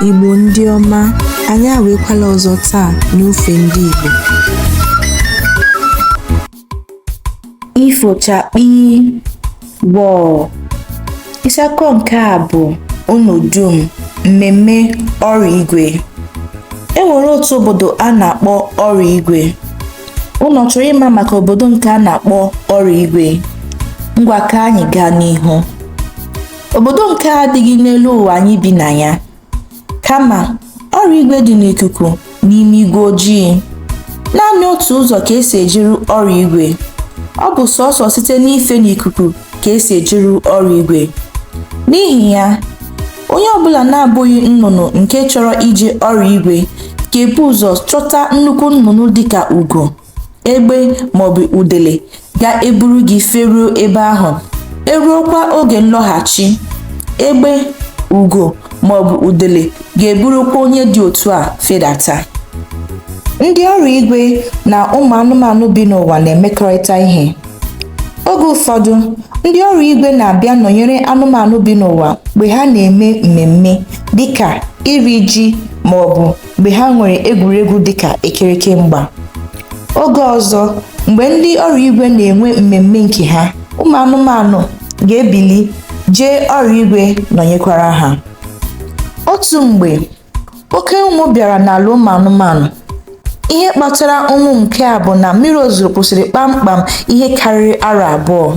Igbo ndị ọma, anyị awakwala ọzọ taa n'ofe ndị Igbo. Ifo chakpi gbọọ. Isiakọ nke a bụ unu dum mmemme ọrụ igwe. E nwere otu obodo a na-akpọ ọrụ igwe. Unu chọrọ ịma maka obodo nke a na-akpọ ọrụ igwe? Ngwa ka anyị gaa n'ihu. Obodo nke a adịghị n'elu ụwa anyị bi na ya, kama ọrụ igwe dị n'ikuku n'ime igwe ojii. Naanị otu ụzọ ka esi ejeru ọrụ igwe. Ọ bụ sọsọ site n'ife n'ikuku ka esi ejeru ọrụ igwe. N'ihi ya, onye ọbụla na-abụghị nnụnụ nke chọrọ ije ọrụ igwe ga-ebu ụzọ chọta nnukwu nnụnụ dịka ugo egbe maọbụ udele ga-eburu gị feruo ebe ahụ eruokwa oge nlọghachi egbe ugo maọbụ udele ga-eburukwa onye dị otu a fedata ndị ọrụ igwe na ụmụ anụmanụ bi n'ụwa na-emekọrịta ihe oge ụfọdụ ndị ọrụ igwe na-abịa nọnyere anụmanụ bi n'ụwa mgbe ha na-eme mmemme dịka iri ji ma ọ bụ mgbe ha nwere egwuregwu dịka ekereke mgba oge ọzọ mgbe ndị ọrụ igwe na-enwe mmemme nke ha ụmụ anụmanụ ga-ebili jee ọrụ igwe nọnyekwara ha otu mgbe oke ụnwụ bịara n'ala ụmụ anụmanụ ihe kpatara ụnwụ nke a bụ na mmiri ozuzo kwụsịrị kpamkpam ihe karịrị arọ abụọ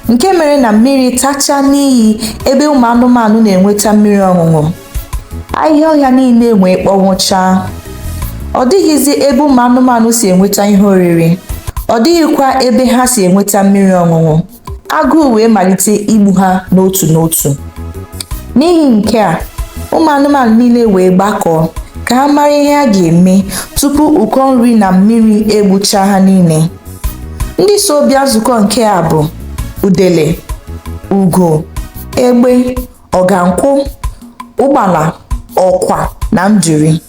nke mere na mmiri tachaa n'iyi ebe ụmụ anụmanụ na-enweta mmiri ọṅụṅụ ahịhịa ọhịa niile wee kpọnwụchaa ọ dịghịzi ebe ụmụ anụmanụ si enweta ihe oriri ọ dịghịkwa ebe ha si enweta mmiri ọṅụṅụ agụụ wee malite igbu ha n'otu n'otu n'ihi nke a ụmụ anụmanụ niile wee gbakọọ ka ha mara ihe a ga-eme tupu ụkọ nri na mmiri egbuchaa ha niile ndị so bịa nzukọ nke a bụ udele ugo egbe ọgankwụ ụgbala ọkwa na nduri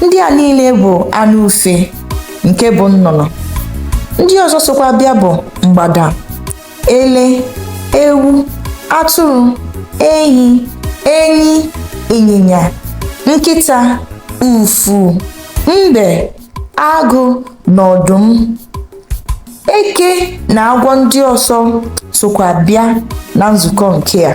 ndị a niile bụ anụ ufe nke bụ nnụnụ ndị ọzọ sokwa bịa bụ mgbada ele ewu atụrụ ehi enyi ịnyịnya nkịta ufu mbe agụ na ọdụm eke na agwọ ndị ọzọ sokwa bịa na nzukọ nke a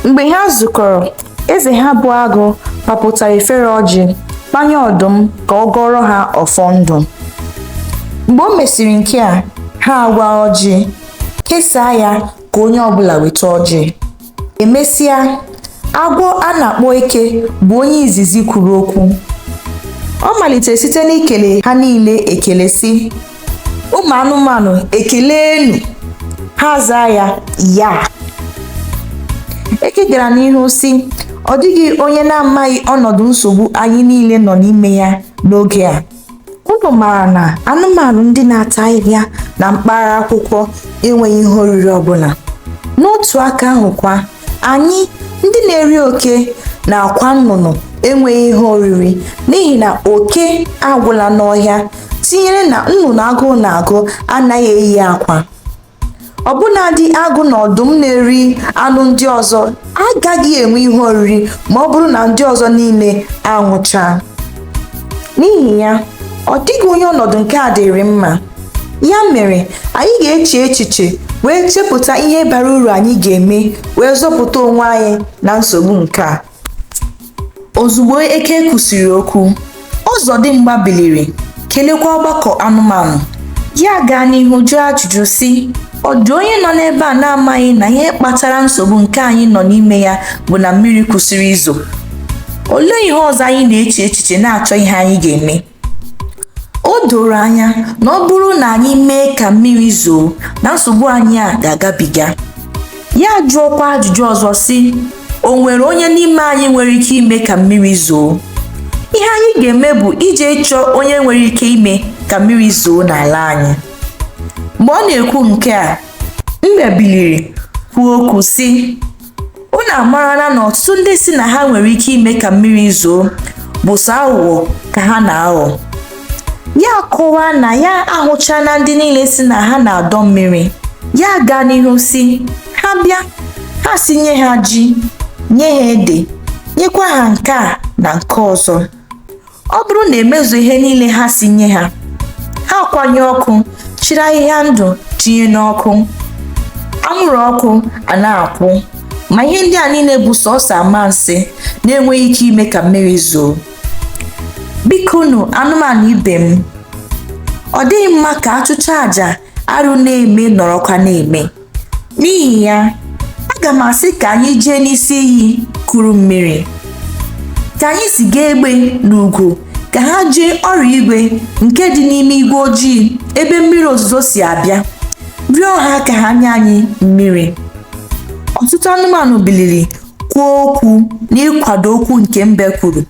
mgbe ha zukọrọ eze ha bụ agụ papụtara efere ọjị kpanye ọdụm ka ọ gọọrọ ha ọfọ ndụ mgbe o mesịrị nke a ha awaa ọjị kesaa ya ka onye ọbụla nweta ọjị emesịa agwọ a na-akpọ eke bụ onye izizi kwuru okwu ọ malitere site n'ikele ha niile ekele sị ụmụ anụmanụ kelenụ ha zaa ya yaa eke gara n'ihu sị ọ dịghị onye na-amaghị ọnọdụ nsogbu anyị niile nọ n'ime ya n'oge a unu maara na anụmanụ ndị na-ata ahịhịa na mkpara akwụkwọ enweghị ihe oriri ọbụla n'otu aka ahụkwa anyị ndị na-eri oke na akwa nnụnụ enweghị ihe oriri n'ihi na oke agwụla n'ọhịa tinyere na nnụnụ agụụ na-agụ anaghị eyi akwa ọbụnadị agụ na ọdụm na-eri anụ ndị ọzọ agaghị enwe ihe oriri ma ọ bụrụ na ndị ọzọ niile anwụchaa n'ihi ya ọ dịghị onye ọnọdụ nke a dịịrị mma ya mere anyị ga-eche echiche wee chepụta ihe bara uru anyị ga-eme wee zọpụta onwe anyị na nsogbu nke a Ozugbo eke kwusịrị okwu, Ọzọdimgba biliri, kelekwa ọgbakọ anụmanụ. Ya gaa n'ihu jụọ ajụjụ sị, Ọ dị onye nọ n'ebe a na-amaghị na ihe kpatara nsogbu nke anyị nọ n'ime ya bụ na mmiri kwụsịrị izo? Olee ihe ọzọ anyị na-eche echiche na-achọ ihe anyị ga-eme? o doro anya na ọ bụrụ na anyị mee ka mmiri zoo na nsogbu anyị a ga-agabiga ya jụọkwa ajụjụ ọzọ sị o nwere onye n'ime anyị nwere ike ime ka mmiri zoo ihe anyị ga-eme bụ ije chọọ onye nwere ike ime ka mmiri zoo n'ala anyị mgbe ọ na-ekwu nke a mbe biliri kwuo okwu sị unu amarala na ọtụtụ ndị sị na ha nwere ike ime ka mmiri zoo bụ sọ aghụghọ ka ha na-aghọ ya kọwaa na ya ahụchala ndị niile sị na ha na-adọ mmiri ya gaa n'ihu sị ha bịa ha sị nye ha ji nye ha ede nyekwa ha nke a na nke ọzọ ọ bụrụ na e mezuo ihe niile ha sị nye ha ha kwanye ọkụ chịrị ahịhịa ndụ tinye n'ọkụ anwụrụ ọkụ a na-akwụ ma ihe ndị a niile bụ sọsọ amansi na-enweghị ike ime ka mmiri zoo bikonụ anụmanụ ibe m ọ dịghị mma ka a chụchaa aja arụ na-eme nọrọkwa na-eme N'ihi ya, aga m asị ka anyị jee n'isi iyi kuru mmiri. Ka anyị ziga egbe na ugo ka ha jee Oriigwe nke dị n'ime igwe ojii ebe mmiri ozuzo si abịa, rịọ ha ka ha nye anyị mmiri. Ọtụtụ anụmanụ biliri kwuo okwu n'ịkwado okwu nke mbe kwuru.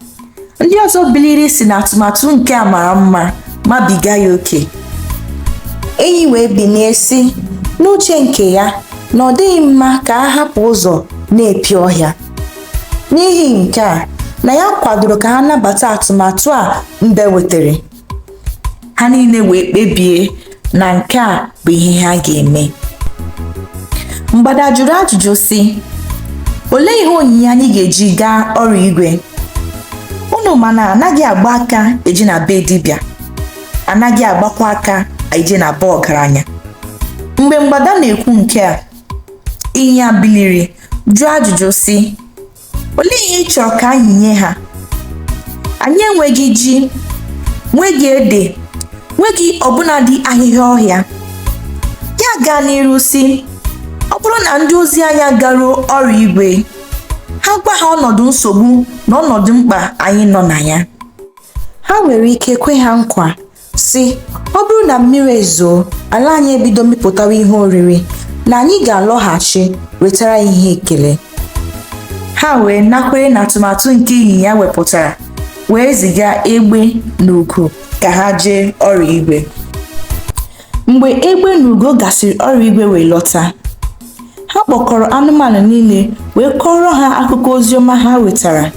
ndị ọzọ biliri si na atụmatụ nke a mara mma mabiga ya oke enyi wee binie si n'uche nke ya na ọ dịghị mma ka a hapụ ụzọ na-epi ọhịa n'ihi nke a na ya kwadoro ka ha nabata atụmatụ a mbe wetara ha niile wee kpebie na nke a bụ ihe ha ga-eme mgbada jụrụ ajụjụ si olee ihe onyinye anyị ga-eji gaa Oriigwe unu ma na a naghị agba aka eje na be dibịa a naghị agbakwa aka eje na be ọgaranya mgbe mgbada na-ekwu nke a ịnyịnya biliri jụọ ajụjụ si olee ihe ị chọrọ ka anyị nye ha anyị enweghị ji nweghị ede nweghị ọbụnadị ahịhịa ọhịa ya gaa n'iru si ọ bụrụ na ndị ozi anyị garuo Oriigwe ha gwa ha ọnọdụ nsogbu na ọnọdụ mkpa anyị nọ na ya ha nwere ike kwe ha nkwa si ọ bụrụ na mmiri ezoo ala anyị ebido mịpụtawa ihe oriri na anyị ga-alọghachi wetara ya ihe ekele ha wee nakwere na atụmatụ nke ịnyịnya wepụtara wee ziga egbe na ugo ka ha jee Oriigwe mgbe egbe na ugo gasịrị Oriigwe wee lọta ha kpọkọrọ anụmanụ niile wee kọọrọ ha akụkọ oziọma ha wetara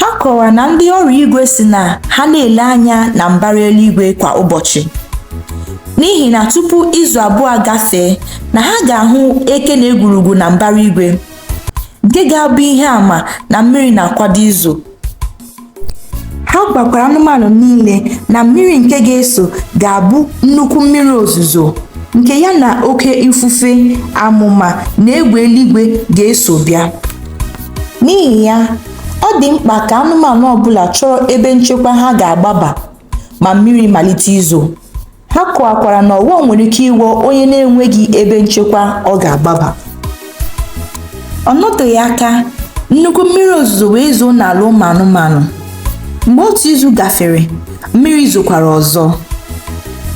ha kọwara na ndị Oriigwe si na ha na-ele anya na mbara eluigwe kwa ụbọchị n'ihi na tupu izu abụọ gafee na ha ga-ahụ eke na egwurugwu na mbara igwe nke ga-abụ ihe àmà na mmiri na-akwado izo ha gwakwara anụmanụ niile na mmiri nke ga-ezo ga-abụ nnukwu mmiri ozuzo nke ya na oke ifufe amụma na egbe eluigwe ga-eso bịa n'ihi ya ọ dị mkpa ka anụmanụ ọbụla chọrọ ebe nchekwa ha ga-agbaba ma mmiri malite izo Ha kọwakwara na ọghọm nwere ike ịghọ onye na-enweghị ebe nchekwa ọ ga-agbaba. Ọ nọteghị aka, nnukwu mmiri ozuzo wee zoo n'ala ụmụ anụmanụ. Mgbe otu izu gafere, mmiri zokwara ọzọ,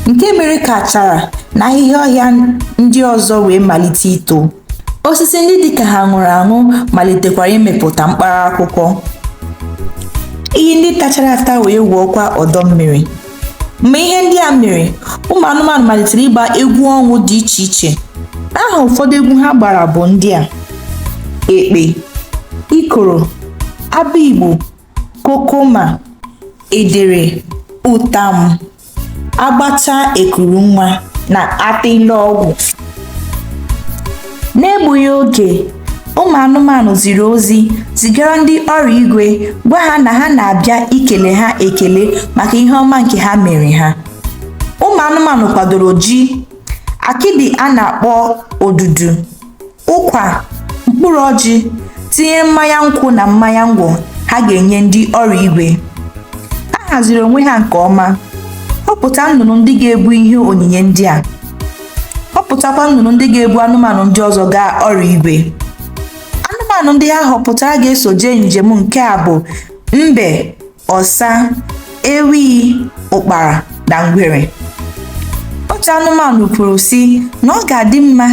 nke mere ka achara na ahịhịa ọhịa ndị ọzọ wee malite ito. Osisi ndị dị ka ha nwụrụ anwụ malitekwara ịmịpụta mkpara akwụkwọ. Iyi ndị tachara ata wee ghọọkwa ọdọ mmiri. mgbe ihe ndị a mere ụmụ anụmanụ malitere ịgba egwu ọṅụ dị iche iche aha ụfọdụ egwu ha gbara bụ ndị a ekpe ikoro abịigbo kokoma edere ụtam agbacha ekuru nwa na atịlọgwụ N'egbughị oge, ụmụ anụmanụ ziri ozi zigara ndị ọrụ igwe gwa ha na ha na-abịa ikele ha ekele maka ihe ọma nke ha mere ha. Ụmụ anụmanụ kwadoro ji, akịdị a na-akpọ odudu, ụkwa, mkpụrụ ọjị, tinyere mmanya nkwụ na mmanya ngwọ ha ga-enye ndị ọrụ igwe. Ha haziri onwe ha nke ọma họpụta nnụnụ ndị ga-ebu ihe onyinye ndị a. họpụtakwa nnụnụ ndị ga-ebu anụmanụ ndị ọzọ gaa ọrụ igwe anụmanụ ndị ha họpụtara ga-eso jee njem nke a bụ mbe ọsa ewi ụkpara na ngwere otu anụmanụ kwuru sị na ọ ga-adị mma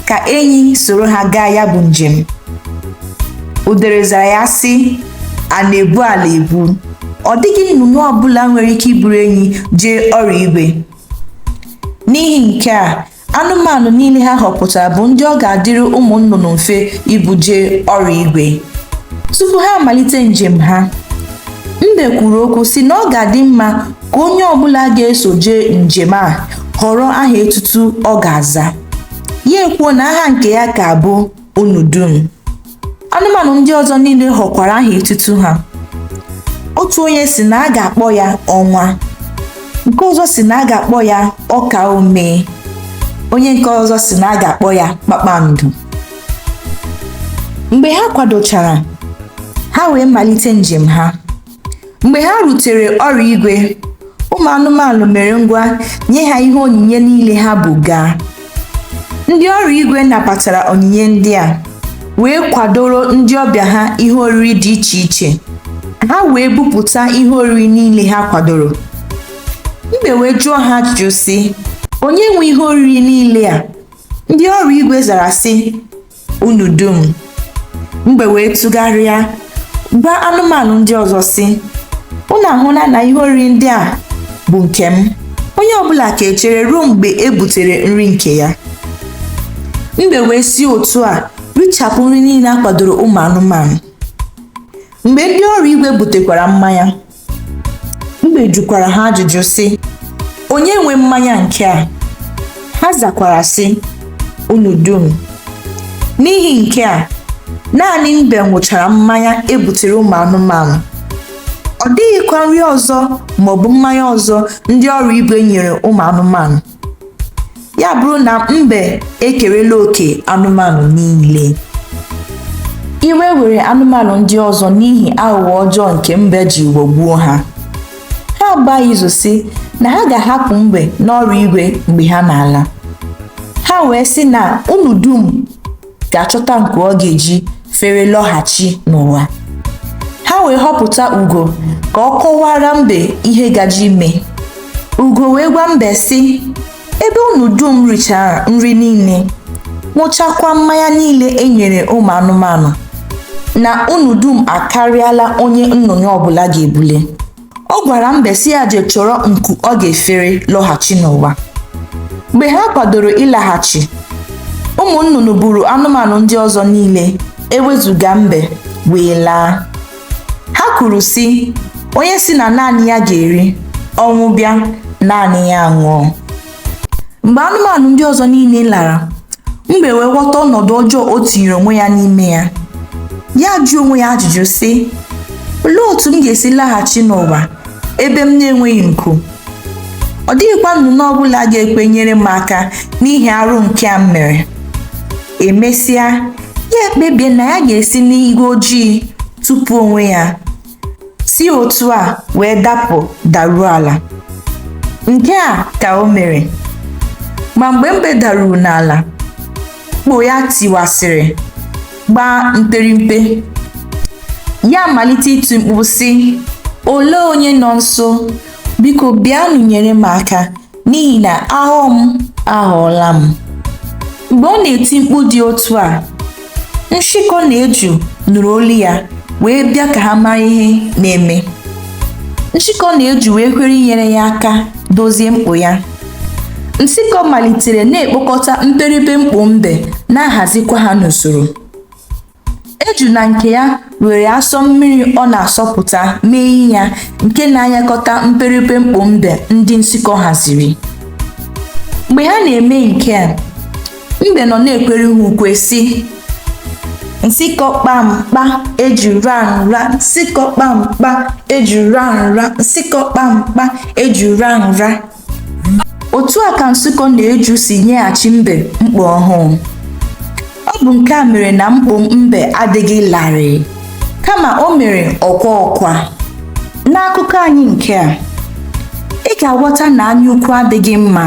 ka enyi soro ha gaa ya bụ njem udere zara ya sị a na-ebu ala ebu ọ dịghị nnụnụ ọbụla nwere ike iburu enyi jee ọrụ igwe N'ihi nke a, anụmanụ niile ha họpụtara bụ ndị ọ ga-adịrị ụmụ nnụnụ mfe ibu jee ọrụ igwe. Tupu ha amalite njem ha, Mbe kwuru okwu sị na ọ ga-adị mma ka onye ọbụla ga-eso jee njem a họrọ aha etutu ọ ga-aza. Ya ekwuo na aha nke ya ga-abụ unu dum anụmanụ ndị ọzọ niile họkwara aha etutu ha otu onye sị na a ga-akpọ ya ọnwa nke ọzọ sị na a ga-akpọ ya ọkaa omee onye nke ọzọ sị na a ga-akpọ ya kpakpando mgbe ha kwadochara ha wee malite njem ha mgbe ha rutere ọrụ igwe ụmụ anụmanụ mere ngwa nye ha ihe onyinye niile ha bu gaa ndị ọrụ igwe nabatara onyinye ndị a wee kwadoro ndị ọbịa ha ihe oriri dị iche iche ha wee bupụta ihe oriri niile ha kwadoro mbe wee jụọ ha ajụjụ sị onye nwe ihe oriri niile a ndị ọrụ igwe zara sị unu dum mbe wee tụgharịa gwa anụmanụ ndị ọzọ sị unu ahụla na ihe oriri ndị a bụ nke m onye ọbụla ga-echere ruo mgbe e butere nri nke ya mbe wee si otu a richapụ nri niile a kwadoro ụmụ anụmanụ mgbe ndị ọrụ igwe butekwara mmanya mbe jụkwara ha ajụjụ sị onye nwe mmanya nke a ha zakwara sị unu dum n'ihi nke a naanị mbe ṅụchara mmanya e butere ụmụ anụmanụ ọ dịghịkwa nri ọzọ maọbụ mmanya ọzọ ndị ọrụ igwe nyere ụmụ anụmanụ ya abụrụ na mbe ekerela oke anụmanụ niile iwe were anụmanụ ndị ọzọ n'ihi aghụghọ ọjọọ nke mbe ji ghọgbuo ha ha agbaa izu sị na ha ga-ahapụ mbe n'ọrụ igwe mgbe ha na-ala ha wee sị na unu dum ga-achọta nku ọ ga-eji fere lọghachi n'ụwa ha wee họpụta ugo ka ọ kọwaara mbe ihe gaje ime ugo wee gwa mbe sị ebe unu dum richara nri niile ṅụchakwa mmanya niile e nyere ụmụ anụmanụ na unu dum akarịala onye nnụnụ ọbụla ga-ebule ọ gwara mbe sị ya je chọrọ nku ọ ga-efere lọghachi n'ụwa mgbe ha kwadoro ịlaghachi ụmụ nnụnụ buru anụmanụ ndị ọzọ niile ewezuga mbe wee laa ha kwuru sị onye sị na naanị ya ga-eri ọnwụ bịa naanị ya anwụọ mgbe anụmanụ ndị ọzọ niile lara mbe wee ghọta ọnọdụ ọjọọ o tinyere onwe ya n'ime ya ya ajụọ onwe ya ajụjụ sị olee otu m ga-esi laghachi n'ụwa ebe m na-enweghị nku ọ dịghịkwa nnụnụ ọ bụla ga-ekwe nyere m aka n'ihi arụ nke a m mere emesịa ya ekpebie na ya ga-esi n'igwe ojii tụpụ onwe ya si otu a wee dapụ daruo ala nke a ka o mere ma mgbe mbe daruru n'ala mkpo ya tiwasịrị gbaa mperimpe ya amalite iti mkpu sị olee onye nọ nso biko bịanụ nyere m aka n'ihi na ahụ m aghọọla m mgbe ọ na-eti mkpu dị otu a nshịkọ na eju nụrụ olu ya wee bịa ka ha mara ihe na-eme nshịkọ na eju wee kwere inyere ya aka dozie mkpo ya nshịkọ malitere na-ekpokọta mperipe mkpo mbe na-ahazikwa ha n'usoro Eju na nke ya were asọ mmiri ọ na-asọpụta mee ihe ya nke na-anyakọta mperipe mkpo mbe ndị nshịkọ haziri. Mgbe ha na-eme nke a, mbe nọ na-ekwere ha ukwe sị, Nshịkọ kpamkpa eju ra nra, nshịkọ kpamkpa eju ra nra, nshịkọ kpamkpa eju ra nra. otu a ka nshịkọ na eju si nyeghachi mbe mkpo ọhụụ ọ bụ nke a mere na mkpo mbe adịghị larịị kama o mere ọkwa ọkwa n'akụkọ anyị nke a ị ga-aghọta na anyaukwu adịghị mma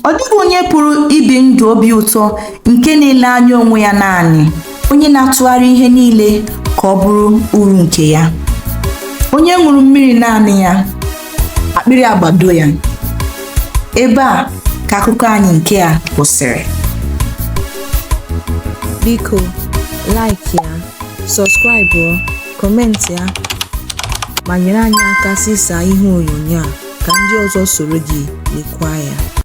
Ọ dịghị onye pụrụ ibi ndụ obi ụtọ nke na-ele anya onwe ya naanị, onye na-atụgharị ihe niile ka ọ bụrụ uru nke ya. Onye ṅụrụ mmiri naanị ya, akpịrị agbado ya. Ebe a ka akụkọ anyị nke a kwụsịrị. Biko, like ya, subscribe. comment ya ma nyere anyị aka zisaa ihe onyonyo a ka ndị ọzọ soro gị lekwa ya.